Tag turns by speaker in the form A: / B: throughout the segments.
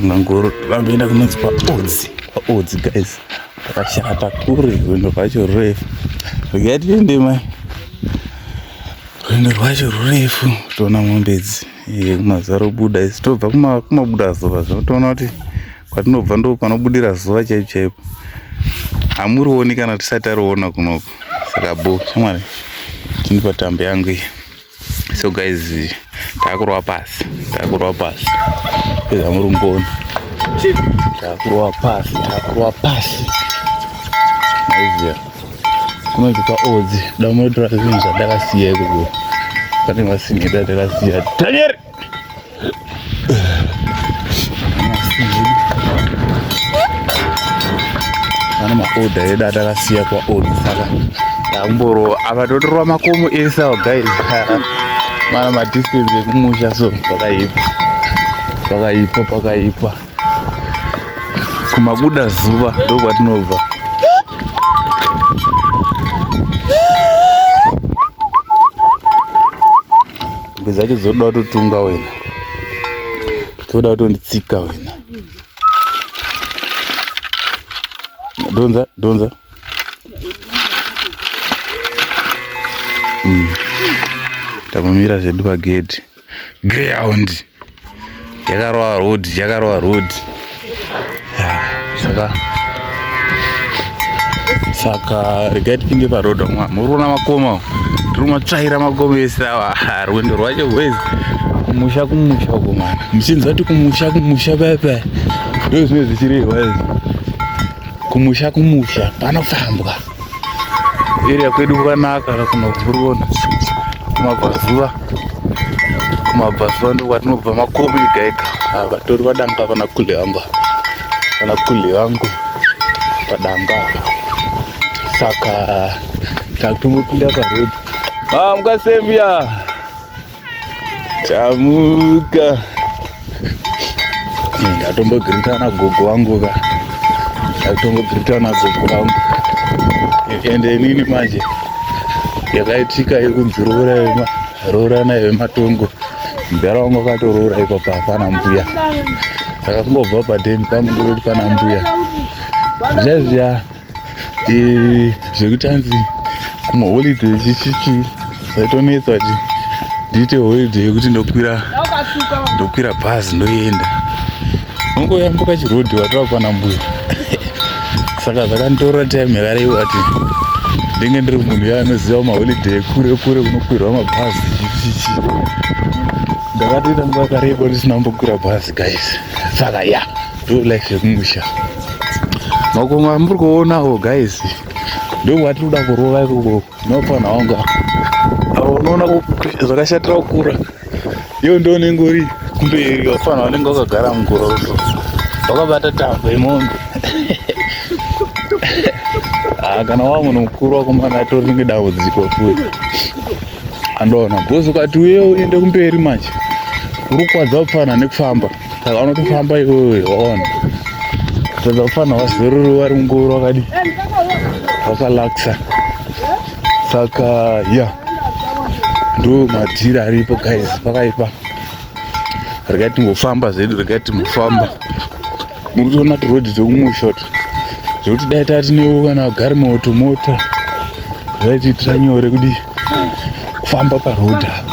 A: Mangoro vamboenda kunonzi paodzi paodzi guys pakashata kure rwendo rwacho rurefu regai tiende mai rwendo rwacho rurefu toona mombe idzi kumazaro buda isi tobva kumabuda zuva zvino toona kuti kwatinobva ndo panobudira zuva chaipo chaipo hamurioni kana tisati tariona kunoko saka bo shamwari tini patambo yangu iyi so guys takurova pasi takurova pasi peza muri mboni takurova pasi takurova pasi maiziva kunoitika odzi damunotora zvinhu zvandakasiya ikoko pane vasinheda ndakasiya danieri oda yedu atakasiya kwaod saka ndakumborova apa totorova makomo ese awa guys mana madistance ekumusha so pakaipa pakaipa pakaipa kumabuda zuva ndokwatinobva Mombe dzacho dzinoda kutotunga wena, dzinoda kutonditsika wena. Donza, donza. Mm. Takumira zvedu pagedhi. Ground. yakarova road yakarova road saka saka regai tipinde paroad mwa muri kuona makoma tiri matsvaira makoma ese awa rwendo rwacho rwezi kumusha kumusha uko mwana muchinzi vati kumusha kumusha paya paya ndo zvine zvichirehwa izvi kumusha kumusha panofambwa area kwedu kwanaka ka kunovhurona kumabvazuva kumabvazuva ndokwatinobva makomo ega ega ah, vatori vadanga vana kule vangu vana kule vangu padanga saka takutongopinda parodi ah, mukasembia Chamuka. Ndatombogirita na gogo wangu ka. Ndatombogirita na gogo wangu. Ende nini manje? Yakaitika yekunzi roora yema roora na yematongo. Mbera wangu akatoroora iko pa pana mbuya. Akangobva pa den pamwe ndoti pana mbuya. Zviya zviya. Eh, zvekuti anzi kumaholiday chichichi zaitonetsa kuti ndiite holiday yekuti ndokwira ndokwira bhazi ndoenda ungoyambuka chirodhi watova kwana mbuya saka zvakanditorera time yakarei wati ndenge ndiri munhu ya anoziva maholiday kure kure kunokwirwa mabhazi chichichi ndakatoita nguva yakareba ndisina kumbokwira bhazi guys saka ya yeah. Do like zvemumusha makomo amuri kuonawo guys ndokwatiri kuda kurova ikoko nopana wangu avo unoona zvakashatira kukura iyo ndo unenge uri kumberi wafana wanenge wakagara mugoroso wakabata tambo yemombe ah, kana wa munhu mukuru wakomana atori ringe dambudziko futi andoona bhosi ukati uye uende kumberi manje uri kukwadza kupfana nekufamba saka unotofamba iwewe waona tadza kufanira vazorori vari mungoro wakadi wakalakisa saka ya ndo madhiri aripo guys pakaipa regai timbofamba zvedu regai timbofamba muri kutoona tirodhi dzekumusha to zvekuti dai tati newo kana vagari moto mota zvaitiitira nyore kudi kufamba parodha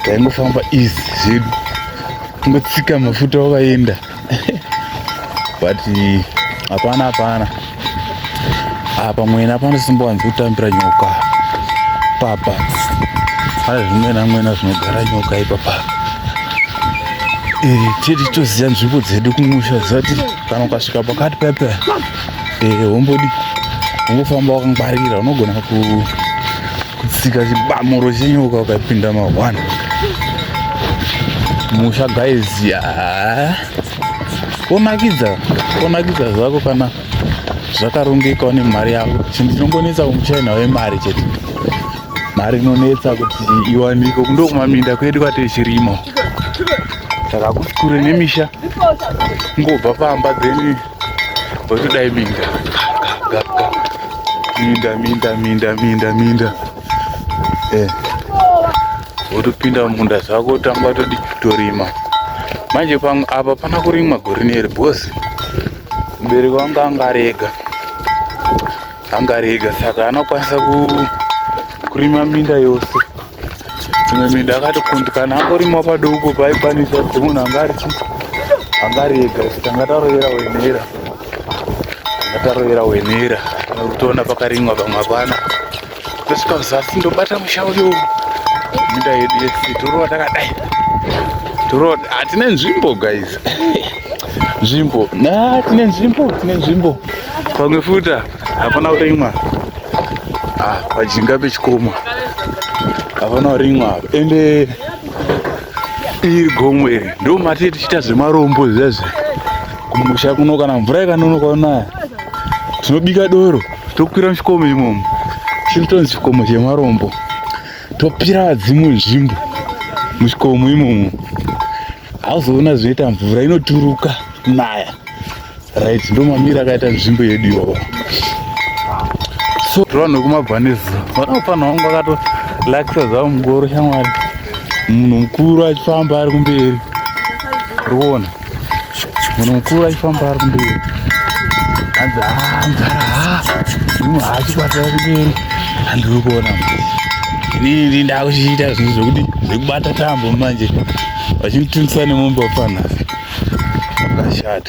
A: taingofamba easy zvedu kungotsika mafuta wakaenda but hapana hapana apa ah, mwena panosimbowanzi kutambira nyoka papa pane zvimwena mwena zvinogara nyoka ipapa eh, tiri toziva nzvimbo dzedu kumusha zati kana ukasvika pakati pepe eh, hombodi ungofamba wakangwarira unogona ku kutsika chibamuro chenyoka ukapinda mahwana musha guys ya wonakidza wonakidza zvako kana zvakarongeka une mari yako chinhu chinongonetsa kumuchina wemari chete mari inonetsa kuti iwanike kundo kumaminda kwedu kwatiri chirimo saka kuti kure nemisha ngobva pamba then Wekudai minda. Minda, minda, minda, minda, minda. Eh. Wotopinda munda zvako tamba todi kutorima. Manje pamwe apa pana kurimwa gore neri boss. Mbereko wangu anga ari ega. Anga ari ega saka anokwanisa kurima minda yose. Mimi ndakatikundikana angorima padoko paikwanisa kuti munhu angari angari ega kuti anga tarovera wenera anga tarovera wenera kutoona pakarimwa pamwe hapana tosvika kuzasi ndobata musha uyo minda yedu yese torova takadai torova hatine nzvimbo guys nzvimbo na tine nzvimbo tine nzvimbo pamwe futa hapana kurimwa ah, pajinga pechikomo hapana kurimwa ende iri gomo iri ndo mati tichiita zvemarombo zvezve kumusha kuno kana mvura ikanonoka unaya tinobika doro tokwira muchikomo imomo chinotonzi chikomo chemarombo topira vadzimu nzvimbo muchikomo imomo hauzoona zvinoita mvura inoturuka naya Right, ndo mamira akaita nzvimbo yedu iyoyo. So vanhu vekumabhanisi vanofana vangu vakato lakisa zvavo mugoro shamwari. Munhu mukuru achifamba ari kumberi. Ruona. Munhu mukuru achifamba ari kumberi. Hanzi haa mdhara haa. Munhu haachibata ari kumberi. Handiri kuona. Ini ndakuchiita zvinhu zvekuti zvekubata tambo manje. Vachinditunisa nemombe wapana. Shut.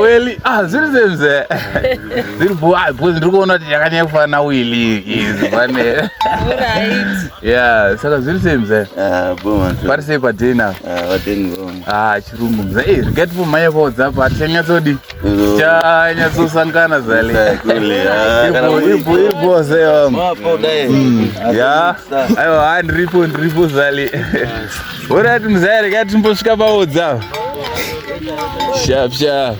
A: weli ah, zviri semze zviri ah, bhozi ndiri kuona kuti yakanyanya kufanana wili izi pane ya saka zviri semze ah, pari sei padina ah, chirungu mze e eh, riget po mhanya kwaodzapa hati chanyatsodi chanyatsosangana zaliiboze ya aiwa ndiripo ndiripo zali Alright mzaya rega timbosvika paodza. Sharp sharp.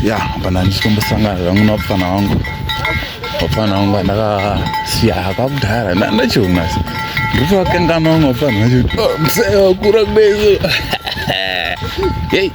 A: Ya, pana nditombosangana zvangu napfana wangu. Wapfana wangu andakasiya kwakudhara ndachiona. Ndikuvakanganwa wapfana wacho. Oh, mzaya wakura kwezo. Hey.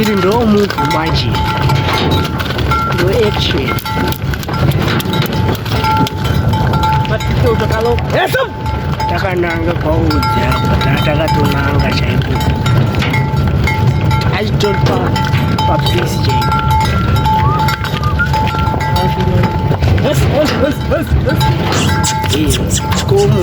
B: iri ndo move manje ndo action takananga kwaudza takatonanga chaiko achitopa papisi chaiko Como?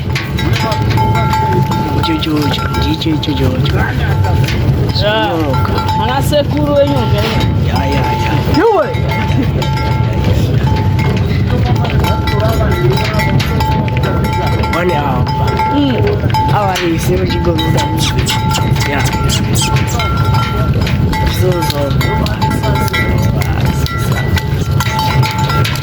B: ichochocho ndicho ichochocho ana sekuru wenyu one hour hour is zero chigo muda yeah so so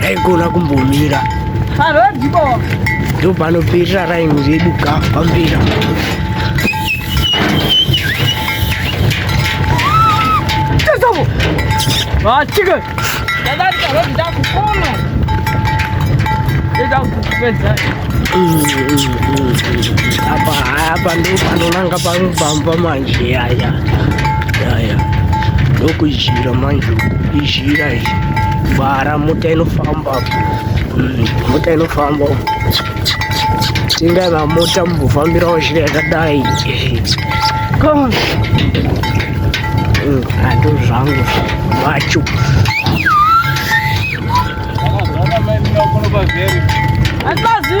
B: taigona kumbomira ndo panoperera raini redu ka pambira Chicken! apa apa ndopanonanga panobamba manje yaya yaya ndokujira manje Ira iyi bara mota inofamba mm, mota inofamba tingana mota mukufambirawo zhira yakadai mm, ando zvangu vacho Atmazi.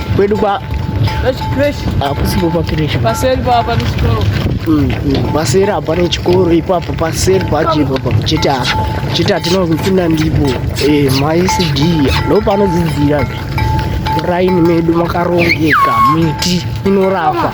B: Kwedu kwa hakusipo pakireshi paseri papa nechikoro mm, mm. paseri apa nechikoro ipapo paseri pacho ipapa chete apa chete atinopinda ndipo eh, maicd ndo panodzidzira muraini medu makarongeka miti inorapa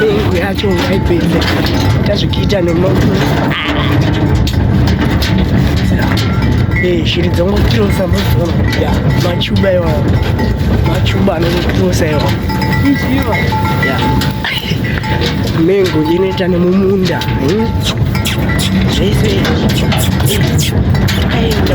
B: mengo yacho ngaipedze tazvikiita nemaoko shiri dzongotirosa muzoya machuba iwawo machuba anongotirosa iwawo mengo inoita nemumunda zvese aenda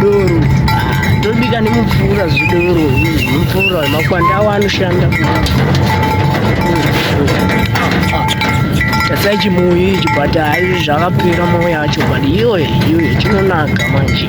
B: Doro ah, tobika nemupfuura zvidoro mupfuura makwanda awo anoshanda tasai chimuyi ichi but haizvi zvakapera moyo yacho but iyoye iyoye chinonaka manje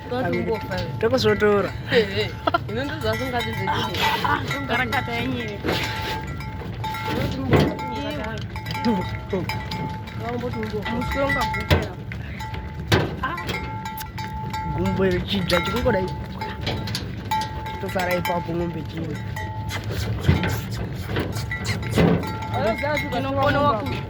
C: tokuzotora gumbo chibya chikungodai tosara ipapo ng'ombe chii inogona wakudya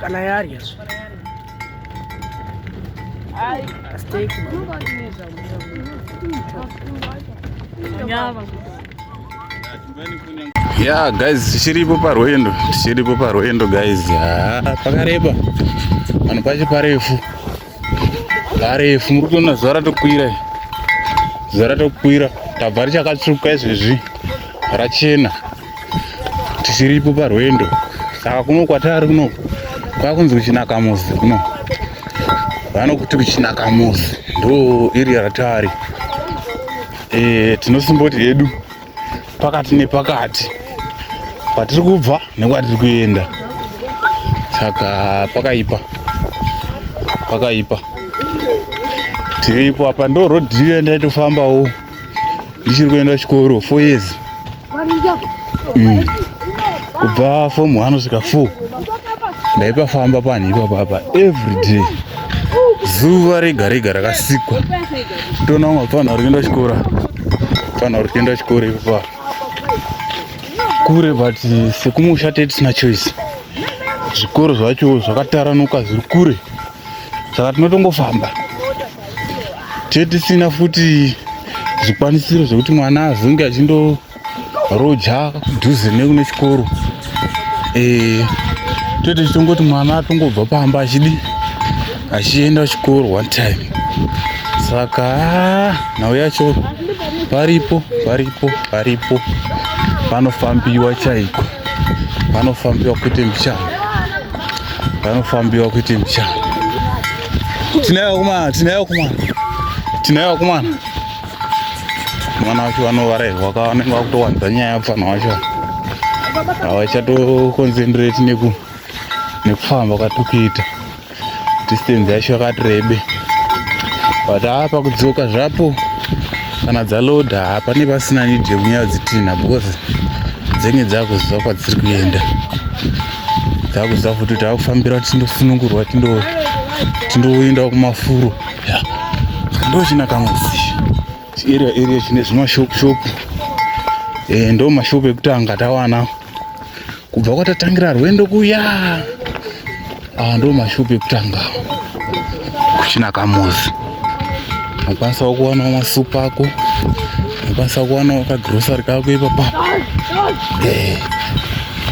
C: kana yarya
A: ya guys tichiripo parwendo tichiripo parwendo guys ya pakareba vanhu pacho parefu Harefu muri kuona zuva ratokwira zuva ratokwira tabva richakatsvuka izvezvi rachena tisiripo parwendo saka kuno kwatari kuno kwakunzi kuchinaka muzi kuno vanokuti kuchinaka muzi ndo iri ratari e, eh, tinosimboti hedu pakati nepakati kwatiri kubva nekwatiri kuenda saka pakaipa pakaipa tiripo apa ndo road riyo ndaitofambawo ndichiri kuenda chikoro four years mm. kubva fom one kusvika four ndaipafamba panhu ipapapa every day zuva rega rega rakasikwa Toona vamwe vanhu vari kuenda chikora. Vanhu vari kuenda chikora ipapo. Kure but sekumusha tete tisina choice. Zvikoro zvacho zvakataranuka zviri kure. Saka tinotongofamba. Tete tisina futi zvikwanisiro zvekuti mwana azonge achindo roja dhuze nekune chikoro eh, toite chitongoti mwana atongobva pamba achidi achienda kuchikoro one time saka ah, nhau yacho paripo paripo paripo panofambiwa chaiko panofambiwa kuite mbichana panofambiwa kuite mbichana tinayo kumana tinayo kumana tinayo kumana mwana wacho vanovarairwa ka vanenge vakutowanza nyaya pfanha wacho havachatoconcentrate neku nekufamba kwatikuita distance yacho yakati rebe but haa pakudzoka zvapo kana dzaloda haa pane pasina need yekunyaya dzitinha because dzenge dzakuziva kwadziri kuenda dzakuziva futi kuti akufambira tindosunungurwa tindoendawo kumafuro ndo china kamusi area area chine zvimashop shop eh ndo mashop ekutanga tawana kubva kwatatangira rwendo kuya ah ndo mashop ekutanga kuchina kamusi unokwanisa kuwana masupa ako unokwanisa kuwana kagrocery kako ipapa eh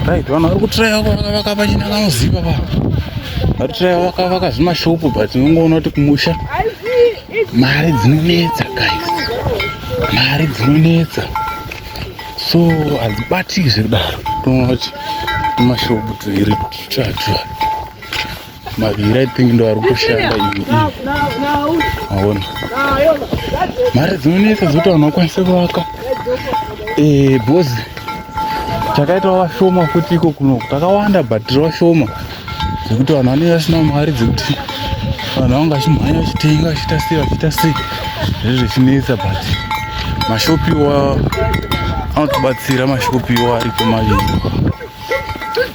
A: Right, vanhu vari kutiraya vakavaka pachina kanoziva pa vari kutiraya vakavaka zvimashopu but unongoona kuti kumusha mari dzinonetsa guys mari dzinonetsa so hadzibatiki zvekudaro toona kuti tumashopu tuiri tutatu maviri i think ndo ari kushanda ivi aona mari dzinonetsa dzoti vanhu vakwanise kuvaka eh, bhozi takaita vashoma futi iko kuno takawanda but tiri vashoma dzekuti vanhu vanenge vasina mari dzekuti vanhu vanga vachimhanya vachitenga vachiita sei vachiita sei zviri zvichinetsa but mashopiwa anotibatsira mashopiwa ariko maviri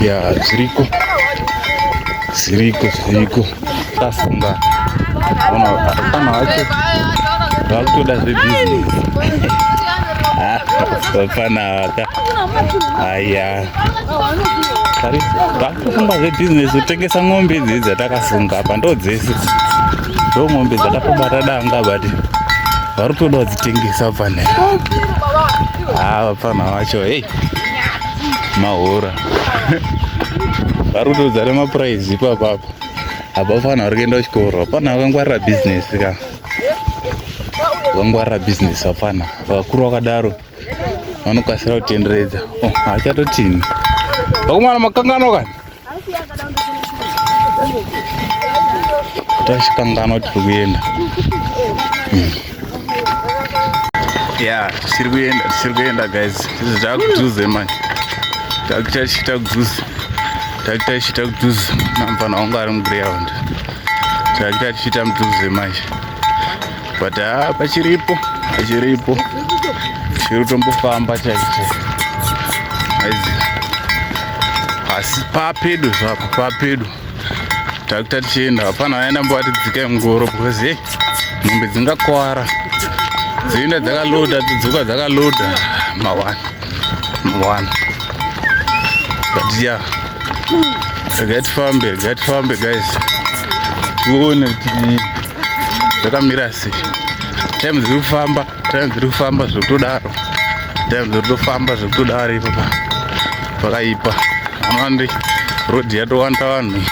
A: ya zviriko zviriko zviriko tafunga ona kana wacho vakutoda zvebusiness vapfana vaka aya vakutofunga zvebusiness kutengesa ng'ombe idzidzi dzatakafunga apa ndo dzese ndo ng'ombe dzatapobata danga bati vari kutoda kudzitengesa pfanaa vapfana vacho hei mahora vari kutodzana mapuraizi ipapa apa apa fana vari kuenda kuchikoro apana vakangwarira bhizinesi ka vakangwarira bhizinesi apana vakuru vakadaro vanokasira kutenderedza oh, hachatotini vakomana makangano kani tasvika ngano tiri kuenda hmm. ya tichiri kuenda tichiri kuenda guys izvi takujuze manje takutachita kujuze takutachita kujuze namfana wangu ari muground takutachita mujuze manje but ah, pachiripo pachiripo chiri tombofamba chaicho aizi asi papedo zvapo papedo takuta tichienda hapana vaenda mbovati dzikai mungoro because hey mombe dzingakwara dzoenda dzakaloda dzodzoka dzakaloda mawana mawana but ya yeah. regai tifambe regai tifambe guys tione kuti zvakamira sei time dziri kufamba time dziri kufamba zvekutodaro time dziri kutofamba zvekutodaro ipapa pakaipa amandi road yatowanda vanhu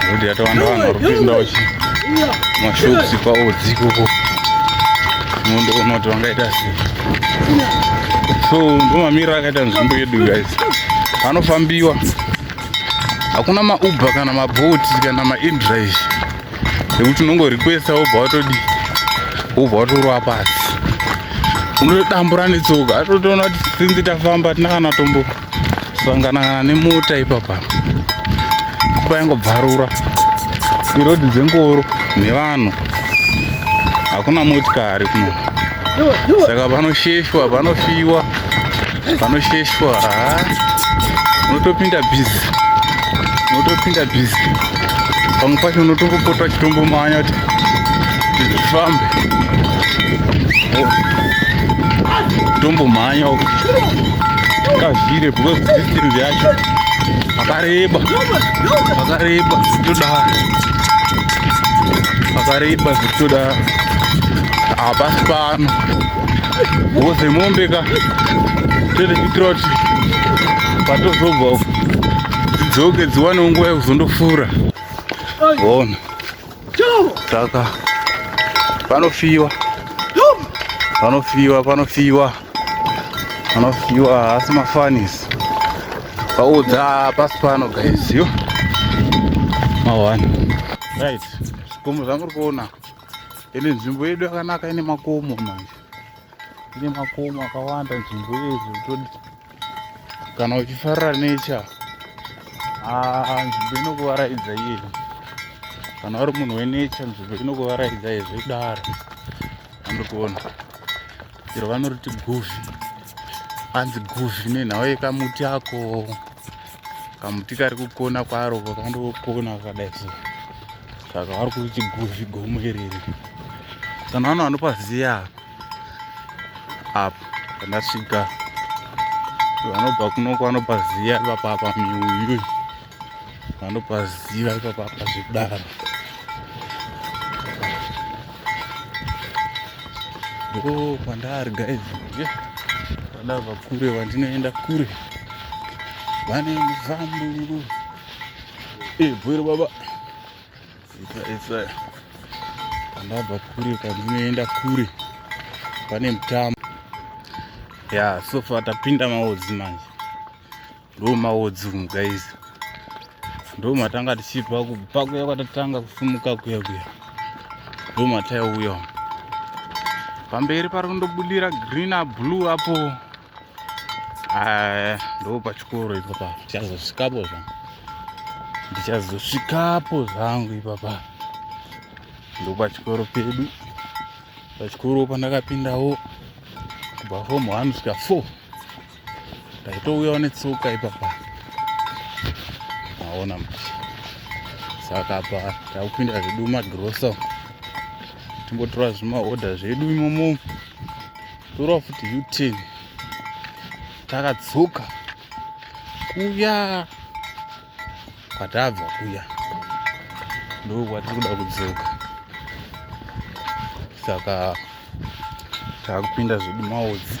A: road yatowanda vanhu vari kupinda wachi mashops paodzi ikoko mundoona kuti vangaita sei so ndomamira akaita nzvimbo yedu guys anofambiwa hakuna mauber kana maboat kana maindrive ekuti unongorequesta wobva watodi wobva watorova pasi unotodambura netsoka atotoona kuti sinzi tafamba tina kana tombo sanganangana nemota ipapa kupa yangobvarura irodi dzengoro nevanhu hakuna motikari kuno saka panosheshwa panofiwa vanosheshwa haa unotopinda bhizi unotopinda bhizi pamwe pacho unotongopota uchitombomanya kuti zvifambe tombomhanya uku kazvire because distance yacho akareba akareba zvitodaro akareba zvitodaro hapasi pano Woze mombe ka. Tete kuitira kuti patozobva uko dzidzoke dziwane nguva yekuzondofura. Ona. Saka panofiwa. Panofiwa, panofiwa. Panofiwa asi mafanis. Paudza pasi pano guys yo. Mawani. Right. Zikomo zvamuri kuona. ende nzvimbo yedu yakanaka ine makomo manje ine makomo akawanda nzvimbo yedu todi kana uchifarira necha ah, nzvimbo inokuvaraidza iyeyi kana uri munhu wenecha nzvimbo inokuvaraidza izvo idaro andikuona iro vanoriti guvi anzi guvi nenhau yekamuti ako kamuti kari kukona kwaro kakandokona kakadai so saka vari kuriti guvi gomo iriri kana vano vanopaziya apo kandasvika vanobva kunoko vanopaziya vapapa miuyuyu vanopaziva ipapa pazvidaro ndo kwandari guys vada vakure vandinoenda kure vane mufambu ebwero baba isa kwandabva kure kwandinoenda kure pane mutambo ya sofa tapinda maodzi manje ndo maodzi umu guys ndo matanga tichibva kubva kuya kwatatanga kufumuka kuya kuya ndo mataiuya umu pamberi pari kundobudira green ablue apo ah, ndo pachikoro ipapa tichazosvikapo zvangu ndichazosvikapo zvangu ipapa ndo pachikoro pedu pachikoro pandakapindawo kubva fomu one kusvika four Taitouyawo netsoka ipapa. Maona manje. Saka apa takupinda zvedu magrosa. Timbotora zvimahodha zvedu imomo. Tora futi U10. Takatsuka. Kuya. kwatabva kuya ndoo kwatiri kuda kudzoka saka takupinda zvedu maodzi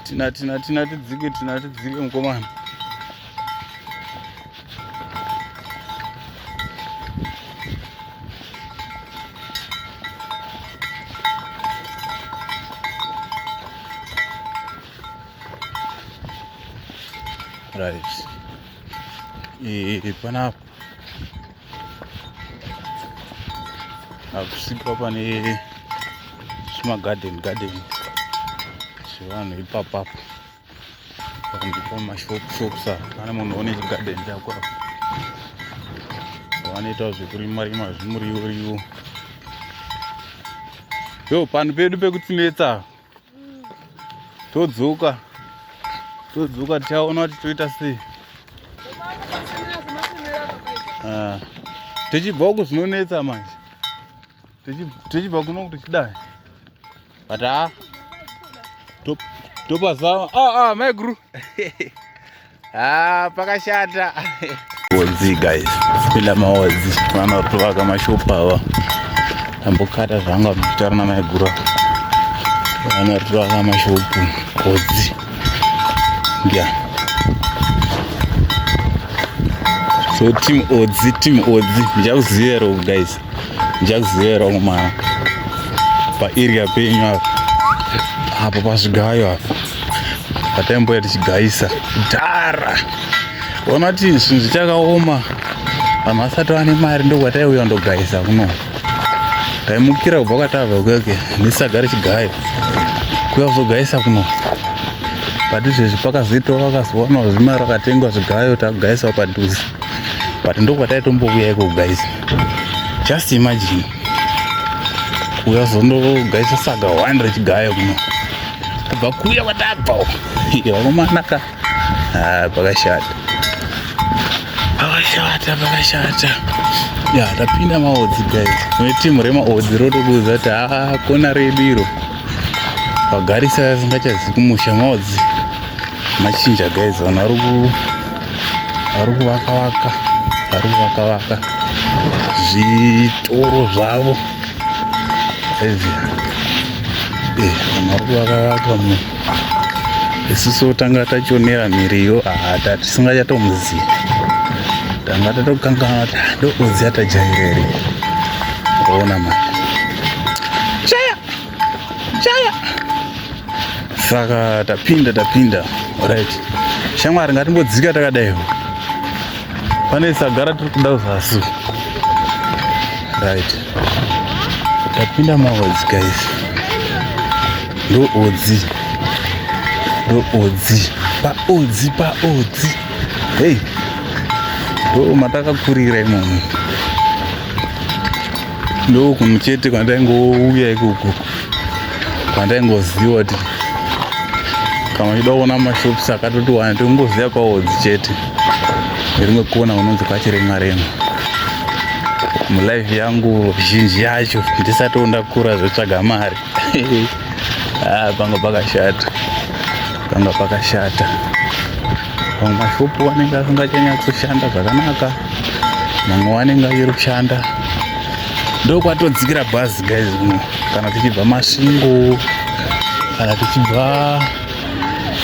A: tina tina tina tidzike tina tidzike mukomana right e, e, e, panapa akusika pane zvimagarden garden zvevanhu ipapapo pandipa mashop shops apa pane munhu one chigarden chako apa vanoita zvekurima rima zvimuriwo riwo yo panhu pedu pekutsinetsa todzoka todzoka tichaona kuti toita sei ah. tichibva uku zvinonetsa manje tichibva kuno kuti chidai but ha ah, topazama aa ah, maiguru Ah, pakashata. Odzi guys. Bila maodzi. Vana kutoka kama shop awa. Ambokata zvanga mutara na maigura. Vana kutoka kama shop. Odzi. Yeah. So team odzi, team odzi. Ndichakuziva guys. Jazero muma pa area penyu apa apa pazvigayo apa pataimboya tichigaisa dhara ona kuti zvinhu zvichakaoma vanhu vasati vane mari ndokwataiuya ndogaisa kuno taimukira kubva kwatava kuyoke ndisaga richigayo kuya kuzogaisa kuno but izvezvi pakazoitawo vakazowana zvimari vakatengwa zvigayo takugaisawo padhuze but ndokwataitombouya iko kugaisa just imagine kuuya zondogaisa saga 100 gaya kuno kubva kuya kwatabva vakomanaka ah, pakashata pakashata pakashata ya tapinda maodzi guys kune timu remaodzi rotokuudza kuti haa ah, kona redu iro vagarisa vasingachazi kumusha maodzi machinja guys vanhu vari ku vari kuvaka vaka vari kuvaka vaka zvitoro zvavo izvi eh, vanhu vari kuvaka vaka mu isusu tanga tachionera miriyo hata tisingachatomuzivi tanga tatokanganwa kuti ah, ndokuziva tajaireri ona mari chaya saka tapinda tapinda right shamwari ngatimbodzika takadaiwo pane sagara tiri kuda zasi right tapinda maodzi guys ndo odzi ndo odzi paodzi paodzi hei ndo matakakurira imomo Ndokunhu chete kwandaingouya ikoko kwandaingoziva kuti kana uchida kuona mashops akatoti wani tingoziva kwaodzi chete nerimwe kona unonzi kwachiremwa remwa mulife yangu zhinji yacho ndisati ndakura zvotsvaga mari ah, panga pakashata panga pakashata vamwe mashopu anenge asingachanyatsoshanda zvakanaka mamwe anenge achiri kushanda ndokwatodzikira bhazi guys uno kana tichibva masvingo kana tichibva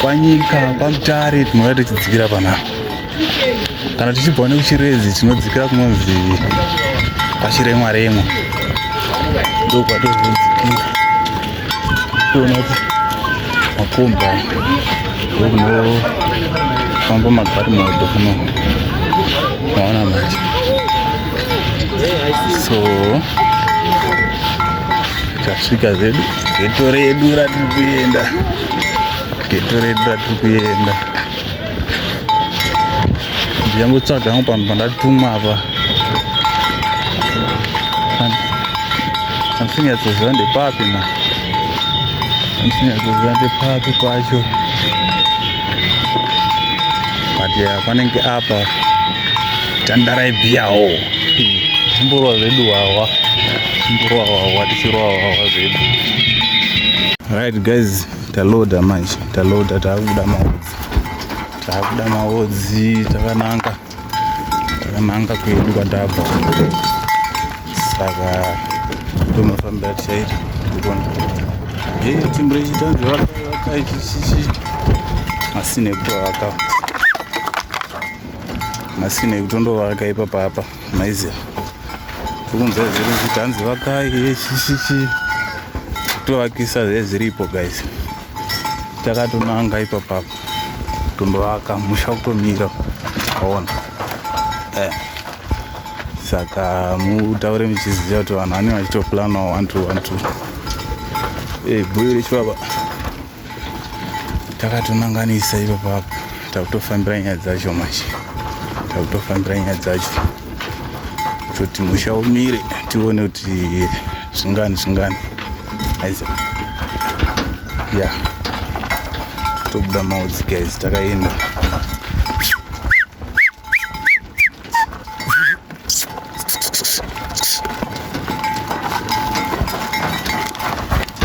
A: kwanyika kwamutare tinouya tichidzikira panapa kana tichibva nekuchiredzi tinodzikira kunonzi pachiremwa remwa ndokwatozodzikira toona kuti makombi aya ndokunofamba magari moto kuno maona manje so tasvika zedu geto redu ratiri kuenda geto redu ratiri kuenda ndiyangotsvaga hangu panhu pandatumwa apa andisinyatsozva ndepapi ma andisinyatsozva ndepapi pacho but ya panenge apa tandaraibhiyawo zimborwa zvedu wawa zimborwa wawa tichirwa wawa zvedu right guys Taloda manje, taloda takuda maodzi. Takuda maodzi takananga. Takananga kwedu kwatabva. Saka tomafambira tichaita ndikona. Hey, timbure chitanzi vakaichichichi. Masine kuto vaka. Masine kuto ndo vaka ipa papa. maiziva ukunzwa zviri kuti hanzi vakai yeshishishi tovakisa zvezviripo guys takatonanga ipapapo tondovaka musha kutomira aona eh. saka mutaure muchiziva kuti vanhu vanenge vachitoplanawo one two one two eh, bhuyo rechibaba takatonanganisa ipo papo takutofambira nyaya dzacho manje takutofambira nyaya dzacho kuti musha umire tione kuti zvingani zvingani aiza ya yeah. tobuda maudzi guys takaenda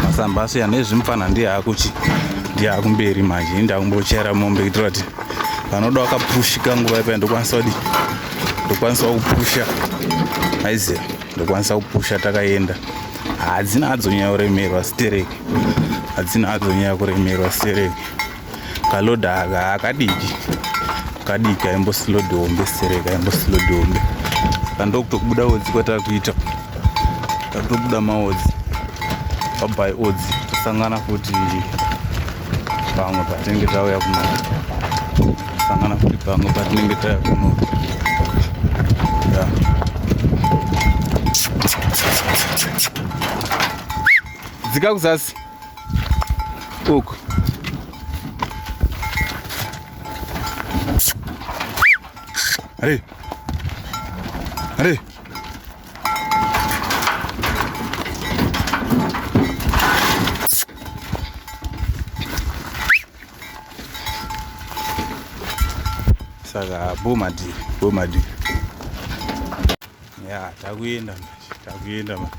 A: masamba asiyana ezvimupfana ndiye akuchi ndiye akumberi manje inde akumbochera mombe kuitira kuti vanoda wakapushika nguva ipaya ndokwanisa kudi ndokwanisa kupusha aiziva ndokwanisa kupusha takaenda hadzina hadzonyaya kuremerwa stereki hadzina hadzonyaya kuremerwa stereki kaloda aka akadiki kadiki aimbosilodi hombe sereka aimbosilodi hombe kandokutokubuda odzi kwatakuita takutobuda maodzi pabai odzi tosangana futi pamwe patinenge tauya kuno tosangana futi pamwe patinenge tauya kuno dzika kuzasi uku Allez Allez saka bomadi bomadi ya takuenda manje takuenda manje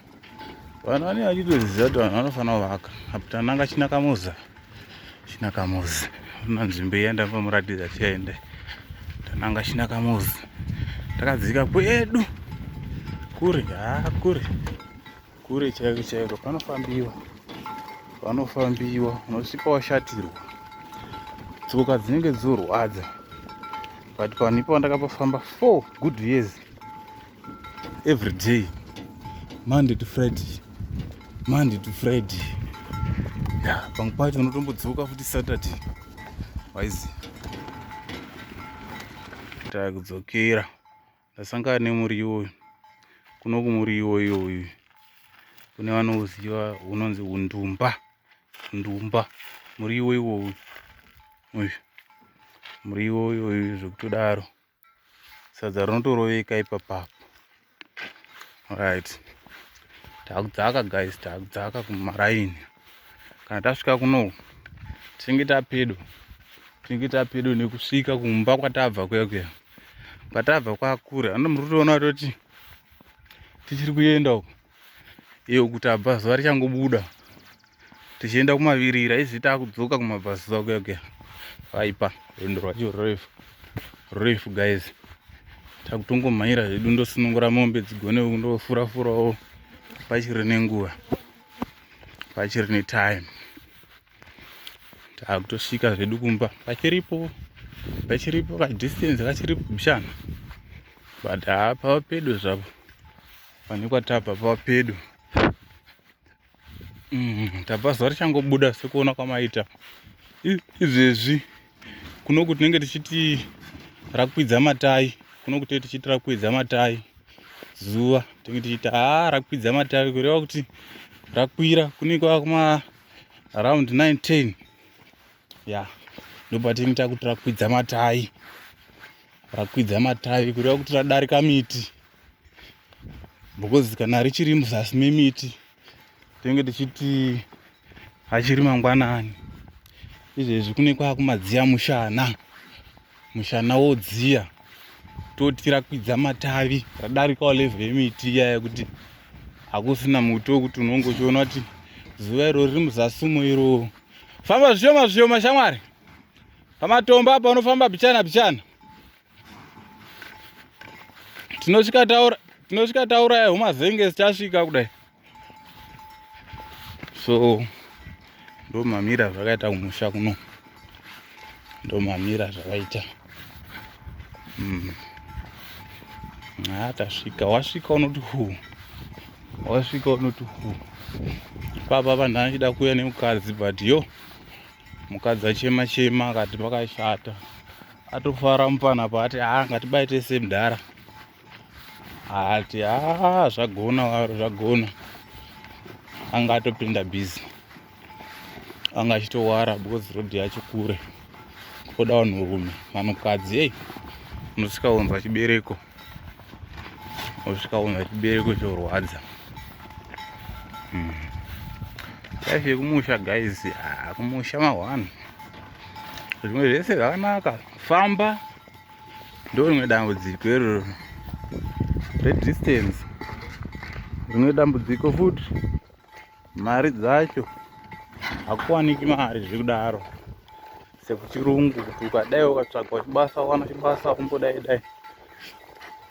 A: vanhu vanenge vachitoziva kuti vanhu vanofanira kuvaka aputananga chinakamuza chinakamuzi una nzvimbo iya ndambomuratidza tiende tananga chinakamuzi takadzika kwedu kure haa kure kure chaiko chaiko panofambiwa panofambiwa unosvika washatirwa tsoka dzinenge dzorwadza but panhu ipo ndakapafamba four good years every day monday to friday monday to friday ya pamwe pacho unotombodzoka futi saturday waizi takudzokera ndasangana nemuriwo uyu kuno kumuriwo iyoyu kune vanoziva unonzi undumba ndumba muriwo iwoyu uyu muriwo iwoyu zvekutodaro sadza rinotoroveka ipapapo right takudzaka guys takudzaka kumaraini kana tasvika kuno tinenge tapedo tinenge tapedo nekusvika kumba kwatabva kuya kuya kwatabva kwakure ano muri kutoona toti tichiri kuenda uko iyo kuti abvazuva richangobuda tichienda kumavirira izvi takudzoka kumabvazuva kuya kuya vaipa rwendo rwacho rurefu rurefu guys takutongomhanyira zvedu ndosunungura mombe dzigone ndofurafurawo pachiri nenguva pachiri netime takutosvika zvedu kumba pachiripo pachiripo kadistance kachiripo bishana but hapa pedo zvapo pane kwatabva pava pedu mm, tabva zuva richangobuda sekuona kwamaita izvezvi kunoku tinenge tichiti rakwidza matai kunoku tee tichiti rakwidza matai zuva tinenge tichiti haa rakwidza matai kureva kuti rakwira kunenge kwava kuma around 9 10 ya ndopatinenge takuti rakwidza matai rakwidza matai kureva kuti radarika miti because kana richiri muzasi memiti tinenge tichiti achiri mangwanani izvezvi kune kwakumadziya mushana mushana wodziya toti rakwidza matavi radarikawo levhu yemiti iya yekuti hakusina muti wekuti unonge uchiona kuti zuva iro riri muzasi umo iro famba zvishoma zvishoma shamwari pamatombo apa unofamba bichana bichana tinosvika taura tinosvika tauraya humazenge sichasvika kudai so ndomamira zvakaita kumusha kuno ndomamira zvakaita mm. tasvika wasvika unoti hu wasvika unoti hu papa vanhu achida kuuya nemukadzi but yo mukadzi achema chema akati pakashata atofara mupana apa ati haa ngatibai tese mdhara ati haa zvagona waro zvagona anga atopinda busy anga achitowara because road yacho kure koda vanhurume vanhukadzi ei unosvika unzwa chibereko osvika unhu chibereko chorwadza hmm. life yekumusha guys ah, kumusha mahwani zvimwe zvese zvakanaka famba ndo rimwe dambudziko iroro redistance rimwe dambudziko futi mari dzacho hakuwaniki mari zviri kudaro sekuchirungu kuti ukadai ukatsvaga chibasa wana chibasa kumbodai dai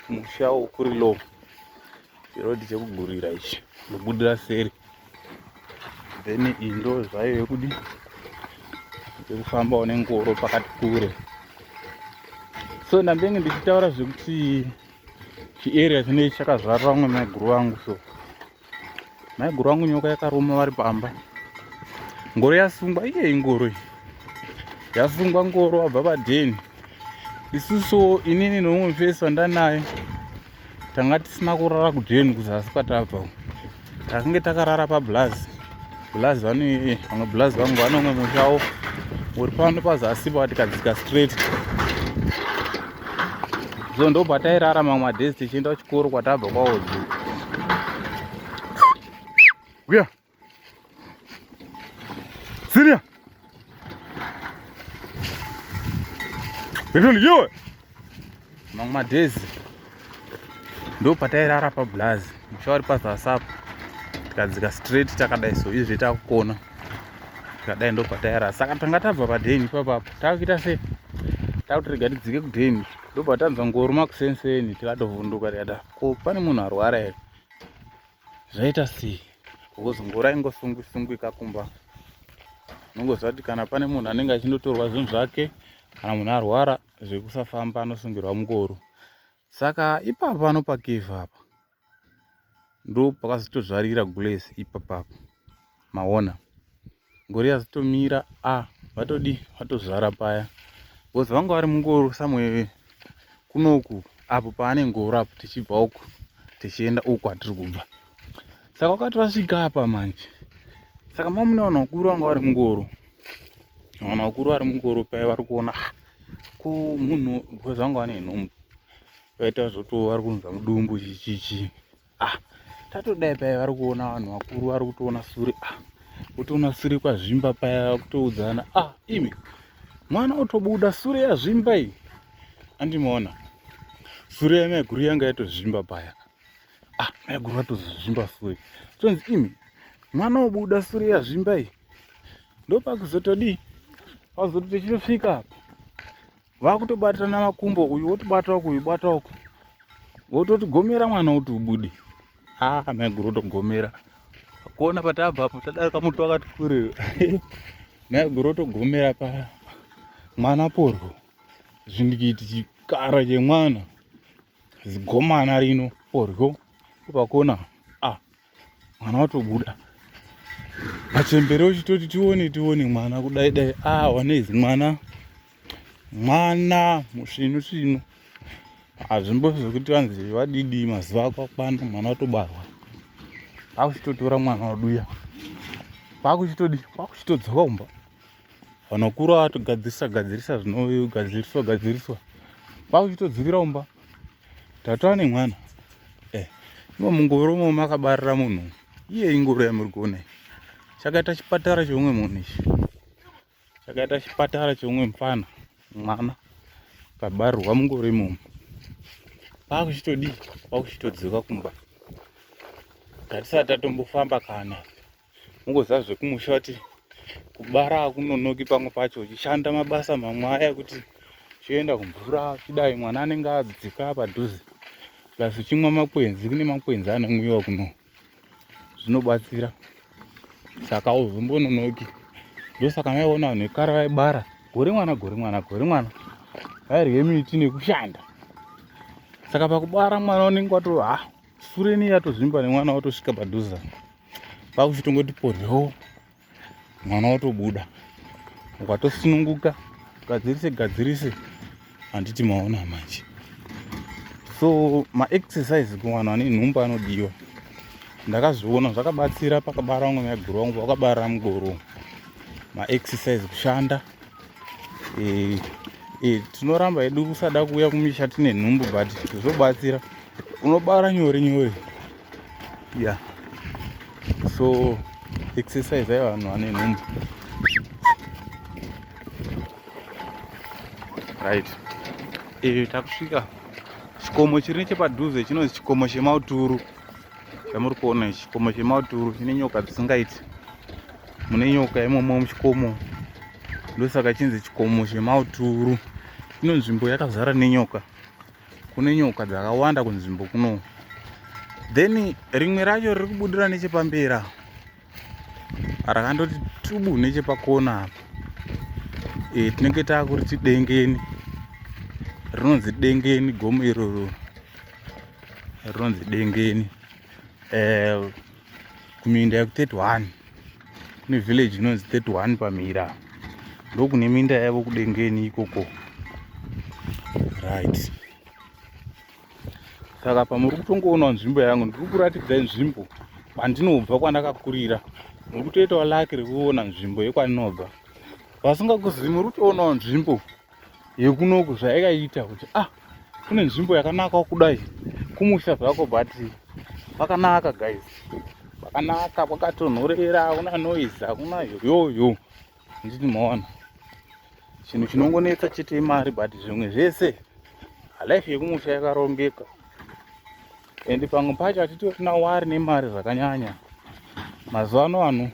A: musha ukuri low chirodhi chekugurira ichi ndobudira seri then indo zvayo yekudi yekufambawo nengoro pakati kure so ndambenge ndichitaura zvekuti chiarea chinei chakazvarira vamwe maiguru vangu so maiguru vangu nyoka yakaruma vari pamba ngoro yasungwa iye ingoro iyi yasungwa ngoro vabva padheni isusu inini nomumwe mufesi wandanaye tanga tisina kurara kudheni kuzasi kwatabva takange takarara pablazi blaz vane vamwe blaz vangu vane umwe mushawo uri pano pazasi pa tikadzika straight so ndobva tairara mamwe madays tichienda kuchikoro kwatabva kwaodzi uya siria Ndinoiwe. Mamwe madhezi. Ndo patairara pa blaz. Mushawari pa WhatsApp. Tikadzika straight takadai so izvi takukona. Tikadai ndo patairara. Saka tanga tabva pa den papa. Takuita se. Takuti rega tidzike ku den. Ndo patanzwa ngoruma kusenseni tikatovhunduka tikada. Ko pane munhu arwara here? zvaita sei because ngura ingosungwi sungwi kakumba unongoziva kuti kana pane munhu anenge achindotorwa zvinhu zvake kana munhu arwara zvekusafamba anosungirwa mungoro saka ipapa panopakivha apa ndo pakazotozvarira gulesi ipapapa maona ngori yazotomira a ah, vatodi vatozvara paya because vanga vari mungoro samwe kunoku apo paane ngoro apo tichibva uku tichienda uku atiri kubva saka wakati vasvika apa manje saka mamuna vanhu vakuru vanga vari mungoro vanhu vakuru vari mungoro paya vari kuona ah, ko munhu because vanga vane nhumbu vaita zvoto vari kunza mudumbu chichichi ah tatodai paya vari kuona vanhu vakuru vari kutoona sure ah kutoona sure kwazvimba paya kutoudzana ah imi mwana otobuda sure yazvimba iyi andimaona sure yamaiguru yanga yatozvimba paya ah maiguru atozozvimba sure tonzi imi mwana obuda sure yazvimba iyi ndopakuzotodii pakuzoto tichitosvika apa vakutobatirana makumbo uyu wotobata uku uyu bata uku wototi gomera mwana kuti ubude haa ah, maiguru otogomera kuona patabva apo tadarika muti wakati kuriro maiguru otogomera pa mwana porwo zvindikiti chikara chemwana zigomana rino porwo pakona mwana watobuda machembere uchitoti tione tione mwana kudai dai ah waneizi mwana mwana musvinu svinu hazvimbo zvekuti vanzi vadidi mazuva ako akwana mwana watobarwa kwakuchitotora mwana waduya kwakuchitodi kwakuchitodzoka kumba vanokura vatogadzirisa gadzirisa zvinogadziriswa gadziriswa vakuchitodzivira umba tatova nemwana eh, imo mungoro umo makabarira munhu iye ingoro yamuri kuona chakaita chipatara cheumwe munhu ichi chakaita chipatara cheumwe mfana mwana kabarirwa mungoro imomo vakuchitodii vakuchitodzika kumba tatisati tatombofamba kana ungoziva zvekumusha kuti kubara akunonoki pamwe pacho uchishanda mabasa mamwe aya kuti uchienda kumvura uchidai mwana anenge adzika padhuze plus uchimwa makwenzi kune makwenzi anomwiwa kuno zvinobatsira saka uzombononoki ndosaka maiona vanhu vekare vaibara gore mwana gore mwana gore mwana vairye miti nekushanda saka pakubara mwana unenge wato ha ah, sureni yatozvimba nemwana watosvika padhuza kwakuti tongoti poryo mwana watobuda ukatosununguka gadzirise gadzirise handiti maona manje so maexercise kuvanhu vane nhumba anodiwa ndakazviona zvakabatsira pakabara vamwe maiguru vangu vakabara mugoro maexercise kushanda e, e, tinoramba hedu kusada kuuya kumisha tine nhumbu but zvobatsira unobara nyore nyore yeah so exercise ayo vanhu vane nhumbu right e, takusvika chikomo chiri nechepadhuze chinonzi chikomo chemauturu chamuri kuona ichi chikomo chemauturu chine nyoka dzisingaiti mune nyoka imomo muchikomo ndosaka chinzi chikomo chemauturu ino nzvimbo yakazara nenyoka kune nyoka dzakawanda kunzvimbo kuno then rimwe racho riri kubudira nechepambera rakandoti tubu nechepakona apa e, tinenge taakuriti dengeni rinonzi dengeni gomo iroro rinonzi dengeni eh, kuminda yeku 31 kune village inonzi 31 pamira ndokune minda yavo kudengeni ikoko right saka pamuri kutongoona nzvimbo yangu ndiri kuratidza nzvimbo kwandinobva kwandakakurira muri kutoitawo laki rekuona nzvimbo yekwandinobva vasingakuzivi muri kutoonawo nzvimbo yekunoku zvaikaita kuti ah kune nzvimbo yakanaka kudai kumusha zvako but kwakanaka guys kwakanaka kwakatonhorera hakuna noise hakuna yoyoyo nditi maona chinhu chinongonetsa chete imari but zvimwe zvese life yekumusha yakarongeka and pamwe pacho hatitorina wari nemari zvakanyanya mazuva ano ano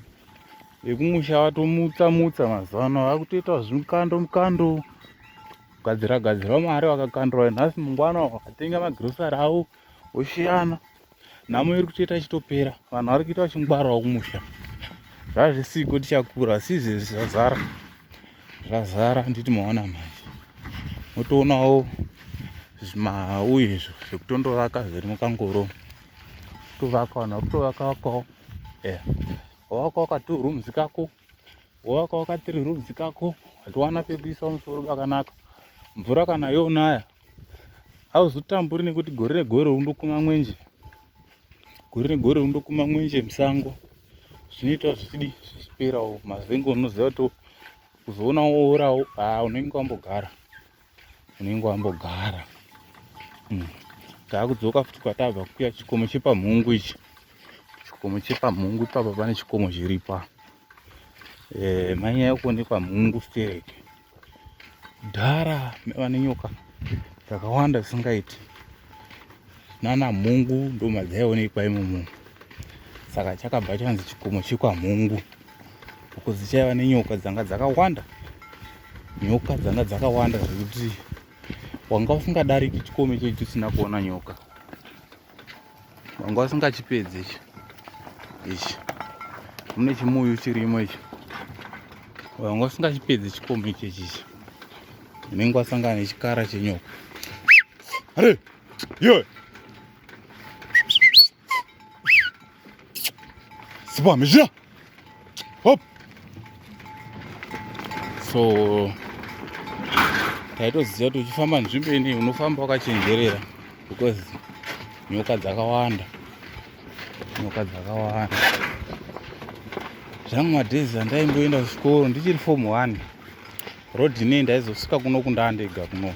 A: vekumusha vatomutsa mutsa mazuva ano vakutoita zvimukando mukando kugadzira gadzira mari vakakandira nhasi mungwana vakatenga magrosari avo voshiyana nhamo iri kutoita ichitopera vanhu vari kuita vachingwarawo kumusha zvazvisiko tichakura sizvi zvazara zvazara handiti maona manje motoonawo zvimau izvo zvekutondovaka zviri mukangoro tovaka vanhu vari kutovaka vakawo eya yeah. waka waka two rooms kako waka waka three rooms kako hatiwana pekuisa musoro pakanaka mvura kana yonaya hauzotamburi nekuti gore negore undokuma mwenje gore negore undokuma mwenje musango zvinoita zvichidi zvichiperawo mazengo unoziva kuti uzoona woorawo haa unenge wambogara unenge wambogara hmm. taakudzoka futi kwatabva kuya chikomo chepamhungu ichi chikomo chepamhungu ipapa pane chikomo chiripa eh, manyaya kuonekwa mhungu stereke dhara vane nyoka dzakawanda dzisingaiti nana mhungu ndomadzaiwonekwa imomo saka chakabva chanzi chikomo chekwamhungu uko dzichaiva nenyoka dzanga dzakawanda nyoka dzanga dzakawanda zvekuti wanga usingadariki chikome chechi chisina kuona nyoka wanga usingachipedzi ichi ichi mune chimuyu chirimo ichi wanga usingachipedzi chikome ichechi ichi unenge wasangana nechikara chenyoka are yoe Sipa mizhira. Hop. So taitoziva kuti uchifamba nzvimbo ini unofamba wakachenjerera because nyoka dzakawanda nyoka dzakawanda zvangu madhezi andaimboenda kuchikoro ndichiri fomu one road inei ndaizosvika kuno kundaa ndega kuno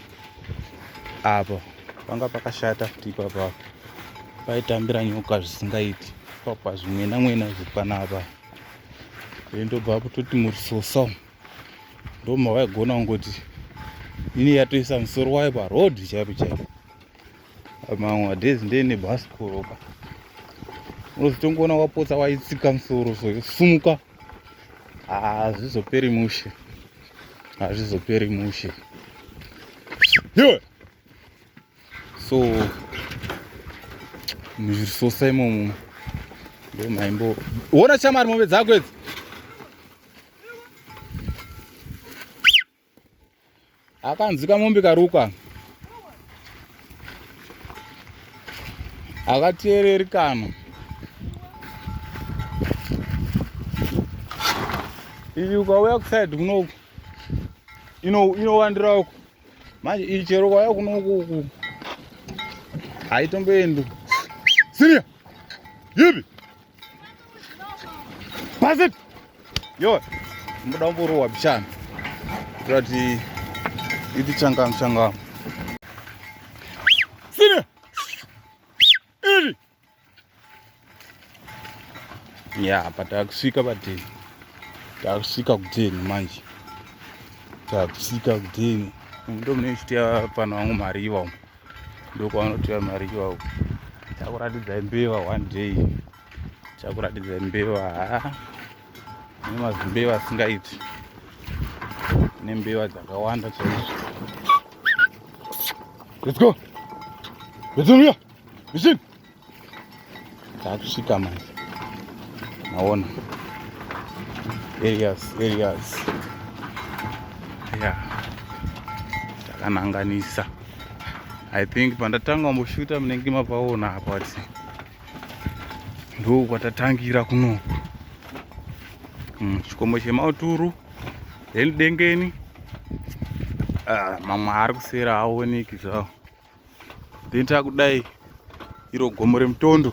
A: apa panga pakashata futi ipapa paitambira nyoka zvisingaiti papa zvimwena mwena zviri panapa ndobva kutoti murisosa umu ndoma vaigona kungoti ini yatoisa musoro wayo paroad chaipo chaipo mamwe madhezi ndene bhasikoroka unozotongoona wapotsa waitsika musoro so yosumuka hazvizoperi ah, mushe hazvizoperi ah, mushe iwe so muzvirisosa imomo ndo maimbo wona chamari mombe dzako idzi akanzi kamombe karuka akateereri kana iyi ukauya kusaidi kunoku inowandira uku manje iyi chero ukauya kunoku uku haitomboendi siriya yipi Pass it. Yo, mbuda umburu wa bichana. Kurati iti changa mchanga. Sine. Iri. Ya, pata kusika pati. Ta kusika kudini manje. Ta kusika kudini. Ndo mne chitia pano wangu mariwa. ndokwavanotora mari iwawo chakuratidza mbeva one day chakuratidza mbeva haa nemazimbeva asingaiti nembeva dzakawanda chaizvo let's go let's go here machine takusvika manje maona areas areas ya takananganisa i think pandatanga kumboshuta munenge mapaona apa kuti ndoo kwatatangira kunoku hmm, chikomo chemauturu then dengeni ah, mamwe ari kusera aoneki zvawo then takudai iro gomo remutondo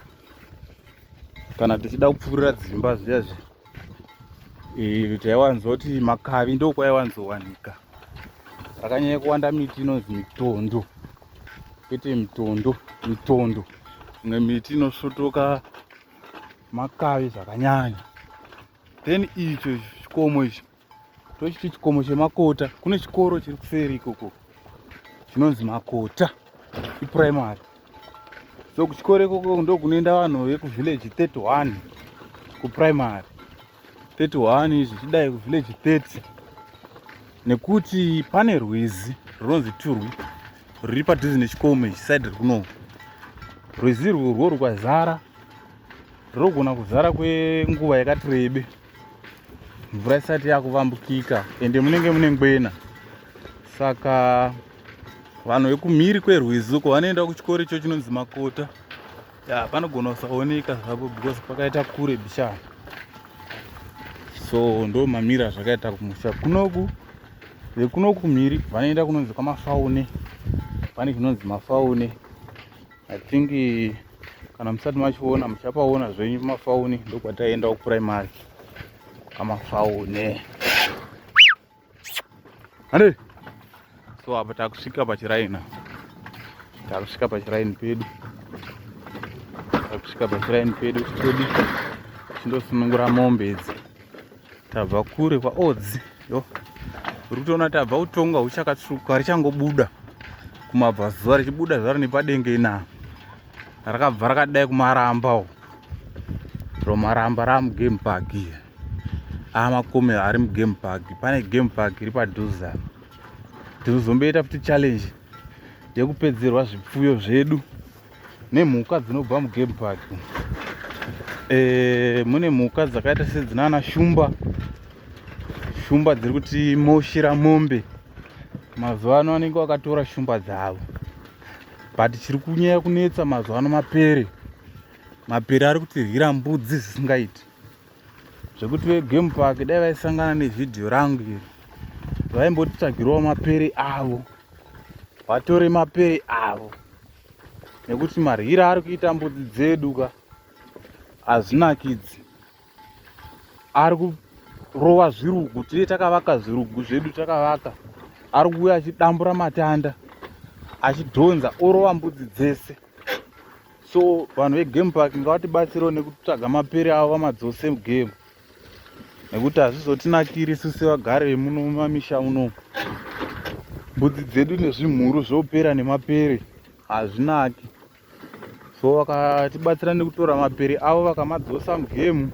A: kana tichida kupfuurira dzimba zviya zviya eh, taiwanzoti makavi ndokwaiwanzowanika rakanyanya kuwanda miti inonzi mitondo kwete mitondo mitondo imwe miti inosvotoka makavi zvakanyanya then icho chikomo icho tochiti chikomo chemakota kune chikoro chiri kuseri ikoko chinonzi makota ipuraimary so kuchikoro ikoko ndo kunoenda vanhu vekuvillage 31 kupuraimary 31 zvichidai kuvillage 30 nekuti pane rwizi runonzi turwi ruri padhuze nechikomo ichi side rikuno rwizi rwo rwo rukazara rinogona kuzara kwenguva yakati rebe mvura isati yakuvambukika ende munenge mune ngwena saka vanhu vekumhiri kwerwizi uko vanoenda kuchikoro icho chinonzi makota ya panogona kusaoneka zvapo because pakaita kure bishana so ndo mamira zvakaita kumusha kunoku vekunoku mhiri vanoenda kunonzi kwamafaune pane chinonzi mafaune I think kana musati machiona muchapaona zvenyu mafauni ndokwataenda kupuraimari kamafaune hande so apa takusvika pachiraina takusvika pachiraini pedu takusvika pachiraini pedu pedu chindosunungura mombe idzi tabva kure kwaodzi yo uri kutoona tabva kutonga huchakatsvuka richangobuda kumabva zuva richibuda zvaro nepadenga ina rakabva rakadai kumaramba u ro maramba raa mugame park iya aa makomero ari mugame park pane game park iri padhuze apa tiri kuzomboita futi challenge yekupedzerwa zvipfuyo zvedu nemhuka dzinobva mugame park e, mune mhuka dzakaita sedzinana shumba shumba dziri kuti moshira mombe mazuva ano anenge wakatora shumba dzavo but chiri kunyaya kunetsa mazuva ano mapere mapere ari kutirwira mbudzi zvisingaiti zvekuti vegame park dai vaisangana nevhidhiyo rangu iri vaimbotitsvagirawo mapere avo vatore mapere avo nekuti maryira ari kuita mbudzi dzedu ka hazvinakidzi ari kurova zvirugu tine takavaka zvirugu zvedu takavaka ari kuuya achidambura matanda achidhonza orova mbudzi dzese so vanhu vegame park ngavatibatsirewo nekutsvaga mapere avo vamadzose mugame nekuti hazvizotinakiri isu sevagari vemuno mumamisha unomu mbudzi dzedu nezvimhuru zvopera nemapere hazvinaki so vakatibatsira nekutora mapere avo vakamadzosa mugemu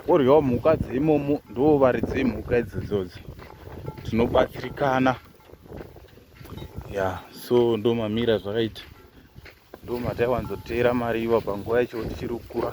A: voryawo mhuka dzeimomo ndo varidzi vemhuka idzodzodzo tinobatsirikana ya so ndo mamira zvakaita ndo mataiwanzoteera mariva panguva yacho tichiri kukura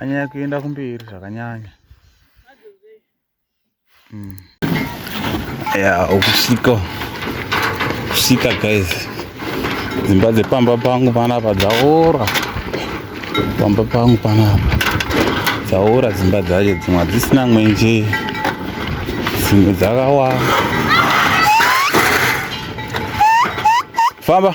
A: anyaya kuenda kumberi zvakanyanya mm. ya ukusika kusika guys dzimba dzepamba pangu panapa dzaora pamba pangu panapa dzaora dzimba dzacho dzimwe hadzisina mwenje dzimwe dzakawa famba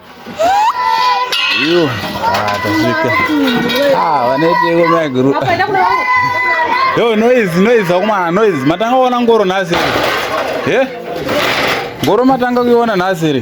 A: Iyo, ah, tasvika. Ah, vanoiteko maiguru. Yo, noise, noise, akumana, noise. Matanga kuona ngoro nhasi. Eh? Ngoro matanga kuiona nhasi.